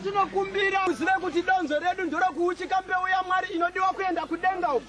tinokumbira uzive kuti donzo redu ndorokuuchika mbeu yamwari inodiwa kuenda kudenga uku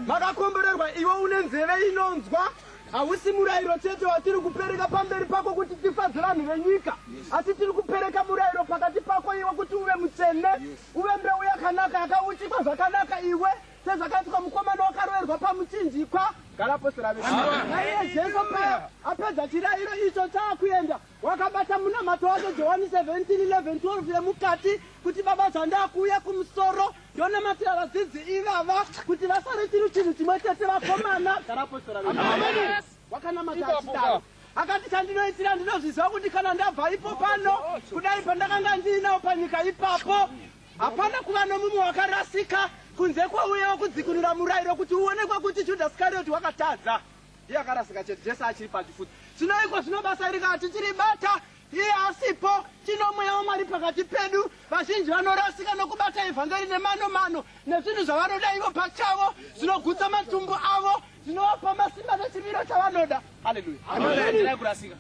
makakomborerwa iwe une nzeve inonzwa hausi murayiro chete watiri kupereka pamberi pako kuti tifadze vanhu venyika asi tiri kupereka murayiro pakati pako iwe kuti uve mutsvene uve mbeu yakanaka yakauchikwa zvakanaka iwe sezvakaitwa mukomana wakaroverwa pamuchinjikwa garaposera veiye jesu paya apedza chirayiro icho chaakuenda Wakabata munamato wacho Johani 17:11-12 yemukati kuti baba zvandakuuya kumusoro ndonamatira vadzidzi ivava kuti vasare chiri chinhu chimwe chete vakomana garapostora wakanamata achidaro akati chandinoitira ndinozviziva kuti kana ndabva ipo pano kudai pandakanga ndiinawo panyika ipapo hapana kuva nomumwe wakarasika kunze kwauyewo kudzikunura murayiro kuti uonekwe kuti judhasi karioti wakatadza Iye akarasika chete Jesu achiri pachifuti. Tinoiko zvino basa iri kana tichiri bata iye asipo tino mweya wamwari pakati pedu vazhinji vanorasika nokubata evhangeri nemano mano nezvinhu zvavanoda ivo pachavo zvinogutsa matumbu avo zvinovapa masimba nechimiro chavanoda haleluya kurasika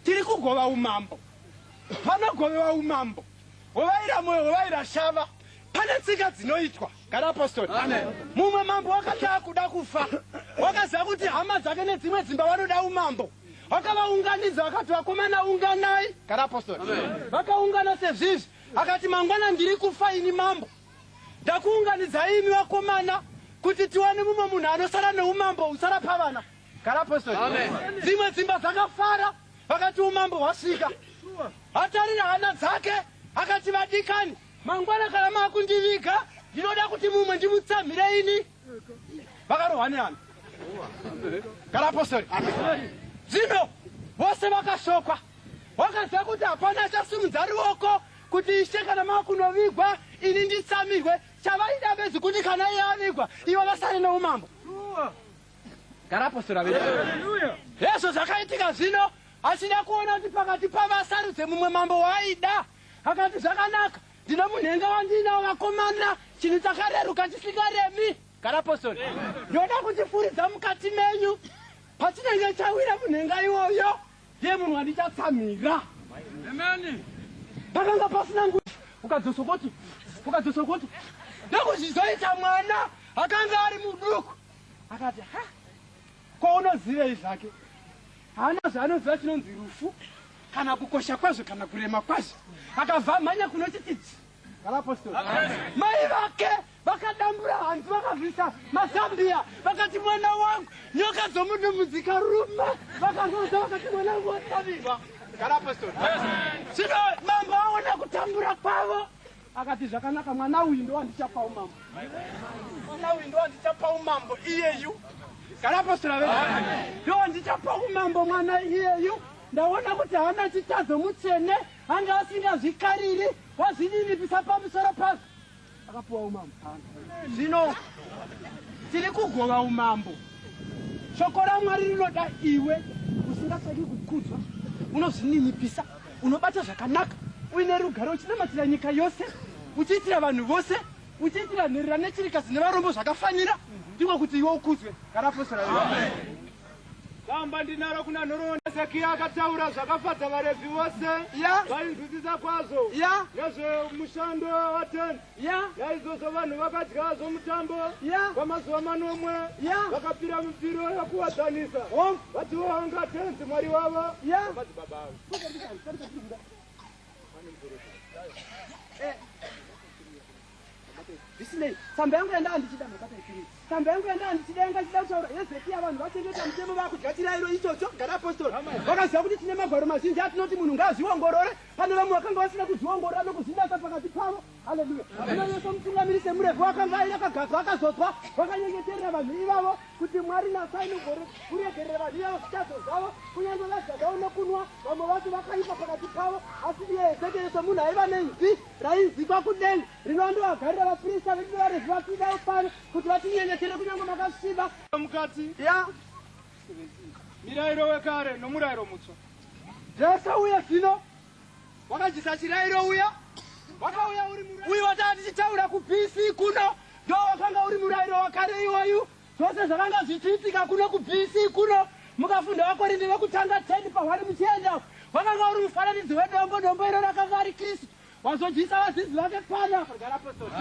tiri kugova umambo panogovewa umambo Wovaira moyo, wovaira shava. Pane tsika dzinoitwa. Gara apostoli. Mumwe mambo wakanga akuda kufa. Wakaziva kuti hama dzake nedzimwe dzimba vanoda umambo. Wakavaunganidza wakati vakomana unganai. Gara apostoli. Vakaungana sezvizvi. Akati mangwana ndiri kufa ini mambo. Ndakuunganidzai imi vakomana kuti tiwane mumwe munhu anosara neumambo usara pavana. Kana apostle. Amen. Dzimwe dzimba dzakafara vakati umambo hwasvika. Atarira hana dzake akati vadikani mangwana kana makundiviga ndinoda kuti mumwe ndimutsamhire ini. Vakarohwa nehana. Kana apostle. Dzino vose vakashokwa. Wakaziva kuti hapana achasimudza ruoko kuti ishe kana makunovigwa ini nditsamirwe chavaida bedzi kuti kana iye avigwa ivo vasare neumambo. gara apostora vedu hezvo zvakaitika zvino achida kuona kuti pakati pavo asarudze mumwe mambo waaida akati zvakanaka ndine munhenga wandiinawo vakomana chinhu chakareruka chisingaremi gara apostori ndoda kuchifuridza mukati menyu pachinenge chawira munhenga iwoyo ndiye munhu wandichatsamira pakanga pasina ngu ukadzosokoti ukadzosokoti ndokuzvizoita mwana akanga ari muduku akati ha ko unozivei zvake haana zvaanoziva chinonzi rufu kana kukosha kwazvo kana kurema kwazvo akabva amhanya kunochitidzi vanapostori mai vake vakadambura hanzi vakazvisa mazambiya vakati mwana wangu nyoka dzomunumudzika rume vakazoza vakati mwana wangu watavirwa vanapostori zvino mambo aona kutambura kwavo akati zvakanaka mwana uyu ndowandichapa umambo mwana uyu ndowandichapa umambo iyeyu kana apostora ve ndowandichapa umambo mwana iyeyu ndaona kuti haana chitadzo mutsvene anga asingazvikariri wazvininipisa pamusoro pazvo akapiwa umambo zvino tiri kugova umambo shoko ramwari rinoda iwe usingatsvaki kukudzwa unozvininipisa unobata zvakanaka uine rugare uchinamatira nyika yose uchiitira vanhu vose uchiitira nherera nechirikazi nevarombo zvakafanira ndiko kuti iwe ukudzwe karapostora gamba ndinaro kuna nhoroondo hezekiya akataura zvakafadza varevhi vose vainzwisisa kwazvo nezvemushando watenzi Naizvozvo vanhu vakadya zvomutambo kwamazuva manomwe vakapira mipiro yokuwadzanisa vatiwo vanga tenzi mwari wavo madzibaba avo zvisinei tsamba yangu yanda andichida makataipiri tsamba yangu yanda andichida yanga chida kutaura hezekiya vanhu vachengeta mutemo vakudya chirairo ichocho gara apostoro vakaziva kuti tine magwaro mazhinji atinoti munhu ngaazviongorore Pane vamwe vakanga vasina kuzviongorora nokuzvinatsa pakati pavo. Haleluya. Zvino Yesu mutungamiri semurevi wakanga ari akagadzwa akazodzwa vakanyengeterera vanhu ivavo kuti Mwari nasai mugore kuregerera vanhu ivavo zvitadzo zvavo kunyange vadya zvavo nokunwa vamwe vacho vakaipa pakati pavo asi iye Ezekieri somunhu aiva nenzwi rainzikwa kudenga rino andovagarira vaprista vedu varevi vapindawo pano kuti vatinyengetere kunyange makasviba mukati ya mirairo wekare nomurairo mutsva zvese uye zvino wakajisa chirairo uya wakauya uri uyu wataa tichitaura kubc kuno ndo wakanga uri murairo wakare iwoyu zvose zvakanga zvichiitika kuno kubc kuno mukafunda wakorinde vekutanga 10 pahwari muchienda wakanga uri mufananidzo wedombo dombo iro rakanga ari kristu Wazodyisa vadzidzi vake pano apa gara apostori.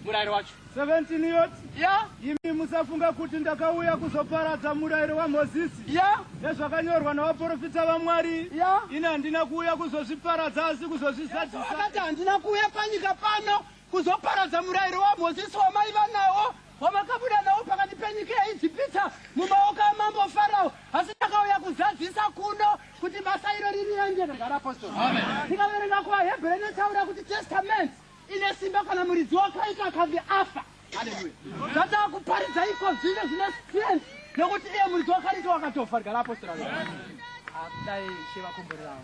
Murayiro wacho. 17 yot. Yeah. Imi musafunga kuti ndakauya kuzoparadza murayiro waMozisi. Yeah. Nezvakanyorwa navaprofita vaMwari. Yeah. Ini handina kuuya kuzozviparadza asi kuzozvizadzisa. Yeah, so akati handina kuuya panyika pano kuzoparadza murayiro waMozisi wamaiva nawo wamakabuda nawo pakati penyika yaIjipita mumaoko amambo Farao asi ndakauya kuzadzisa kuno kuti basa iro riri ranje ndagara apostoli ndikaverenga kuvahebhere inotaura kuti testament ine simba kana muridzi wakaita akange afa haleluya zvataa kuparidza iko zvine zvine strength nekuti iye muridzi wakaita wakatofa rigara apostoli dai shevakomborerawo